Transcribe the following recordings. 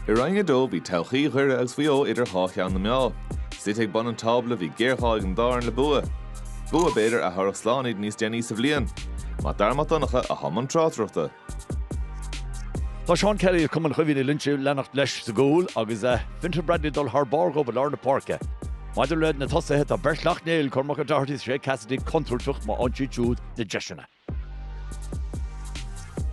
I Roinn 2 bhí todhchaí Dhoire agus Mhaigh Eo idir dhá cheann na meá. Suite ag bun an tábla bhí géarghá ag an dá fhoireann le bua. Bua b'fhéidir a thabharfadh slán iad níos déanaí sa bhliain. Mac Dara Mac Donncha atá i mbun tráchtaireachta. Tá Seán Kelly as Cumann Chaoimhín Uí Loingsigh leanacht leis sa gcúl agus Fintan Bradley ag dul thar barr dóibh i lár na páirce. Maidir le na tosaithe tá beirt Shleacht Néill, Cormac O'Doherty is Shay Cassidy, contúirteach má fhaigheann siad siúd na deiseanna.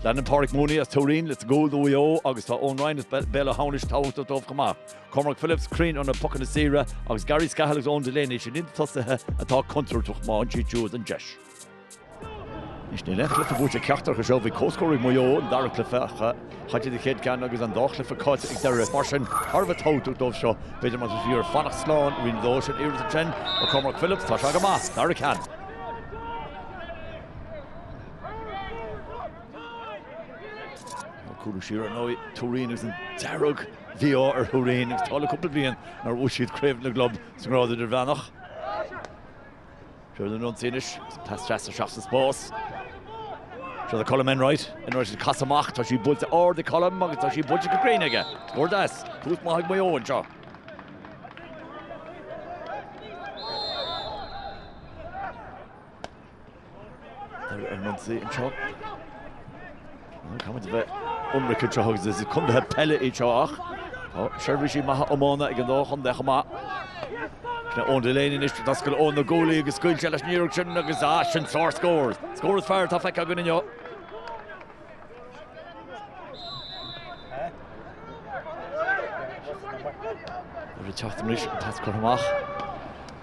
Leanann Páraic Mooney as Tuairín leis sa gcúl do Mhaigh Eo agus tá Eoin Ryan as Béal Átha hAmhnais tábhachtach dóibh chomh maith. Cormac Phillips cruinn ar na pocanna saora agus Gary Scahill agus Eoin Delaney sin iad na tosaithe atá contúirteach má fhaigheann siad siúd an deis. Is níl aon chluiche buaite ag ceachtar acu seo a bhí comhscór ag Maigh Eo sa dara cluiche a chaill siad an chéad cheann agus an dá chluiche caillte ag Doire. Mar sin, thar a bheith tábhachtach dóibh seo, b'fhéidir, más mian leo fanacht slán, i Roinn 2 sin iarracht ansin ó Cormac Phillips, tá sí go maith, dara ceann. Cúlaí siar ar ndóigh Tuairín agus an dearg bhí ar Thuairín agus tá le cúpla bliain nuair a bhuaigh siad Craobh na gClub sa nGrád Idirmheánach. Siar ina n-ionsaí anois, pas deas isteach sa spás. Siar le Colm Enright, Enright ag casadh amach, tá sí buailte ard ag Colm agus tá sí buailte go cruinn aige. Scór deas, tús maith ag Maigh Eo anseo. Ar ar Monty an seo. Caithfimid bheith ionraic an seo agus is contaetha peile iad seo ach tá seirbhísigh maithe iomána ag an dá chontae chomh maith. Eoin Delaney anois d'oscail Eoin na guaillí agus scaoil sé leis an iarracht sin agus ah sin sár scór. Scór is fearr atá feicthe againn inniu. Ag teacht arís, pas curtha amach.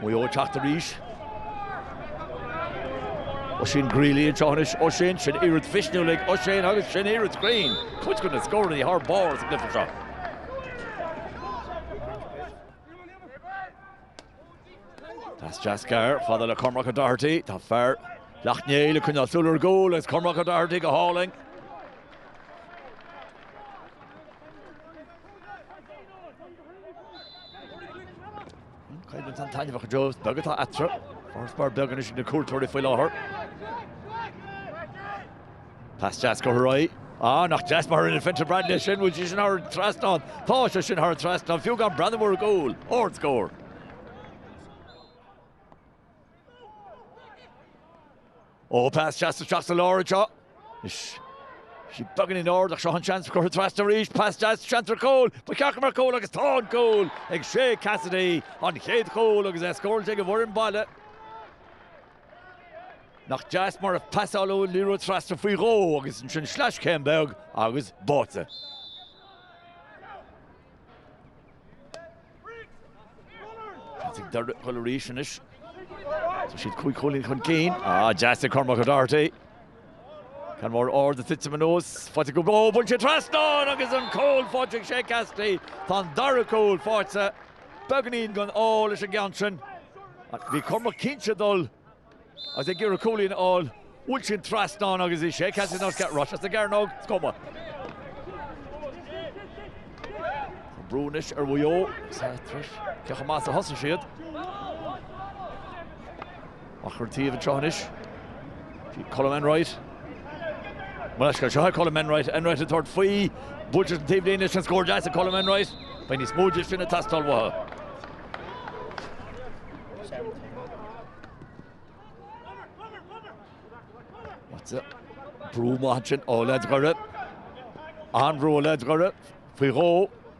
Maigh Eo ag teacht arís. Oisín Greeley anseo anois. Oisín, sin iarraidh mhisniúil ag Oisín agus sin iarraidh chruinn. Cuid de na scóranna thar barr sa gcluiche seo. Pas deas gearr fada le Cormac O'Doherty. Tá fear Shleacht Néill ag coinneáil súil ar an gcúl agus Cormac O'Doherty go hálainn. Coimhlint an-taitneamhach go deo is beag atá eatarthu. Farasbarr beag anois ag na cuairteoirí faoi láthair. Pas deas go Harry. Ah, nach deas mar a rinne Fintan Bradley é sin, bhfuil sé sin thar an trasnán? Tá sé sin thar an trasnán, fiú gan breathnú ar an gcúl. Ard-scór. Ó, pas deas isteach sa lár anseo. Tá sí beagán ard ach seo an seans cur trasna arís, pas deas seans ar chúl, ba cheart go mbeadh cúl agus tá an cúl ag Shay Cassidy, an chéad chúl agus é scóráilte ag an bhfoireann baile. Nach deas mar a pasáladh an liathróid trasna faoi dhó agus ansin sleais céim beag agus báite. Is ag Doire ag dul arís anois. Tá siad cúig chúilín chun cinn. Deas ag Cormac O'Doherty. Ceann mór ard ag titim anuas, faighte go gcló, bhain sé an trasnán agus an cúl faighte ag Shea Cassidy. Tá an dara cúl faighte beagáinín den ádh leis an gceann sin. Bhí Cormac cinnte ag dul agus é ag iarraidh cúilín a fháil, bhuail sé an trasnán agus bhí Shea Cassidy san áit cheart, ráiteas sa gcearnóg, is cuma. Tá brú anois ar Mhaigh Eo, is ait leis, cé chomh maith is a thosaigh siad. Ach ar taobh anseo anois bhí Colm Enright. Mullach scoir seo ag Colm Enright. Enright ag tabhairt faoi. Buaiteas an taobh linn is an scór deas ag Colm Enright. Beidh níos mó de sin ag teastáil uathu. Brú maith ansin ó leaids Dhoire. An-bhrú ó leaids Dhoire faoi dhó.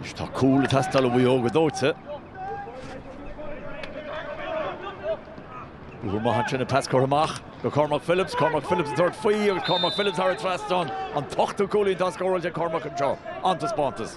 Anois tá cúl ag teastáil ó Mhaigh Eo go dóite. Obair mhaith ansin an pas curtha amach go Cormac Phillips, Cormac Phillips ag tabhairt faoi agus Cormac Phillips thar an trasnán, an t-ochtú cúilín atá scóráilte ag Cormac anseo. An-taispeántas.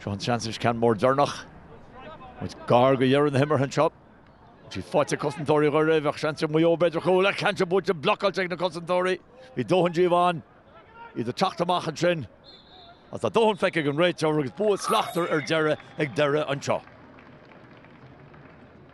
Seo an seans anois ceann mór deireanach. Muid gar go dheireadh na himeartha anseo. Siad thart ar chosantóirí go raibh seans ag Maigh Eo b'fhéidir cúl eile ceann atá buailte blocáilte ag na cosantóirí. Bhí dóthain díobh ann. Iad ag teacht amach ansin. Is tá dóthain feicthe ag an réiteoir agus bua slachtmhar ar deireadh ag Doire anseo.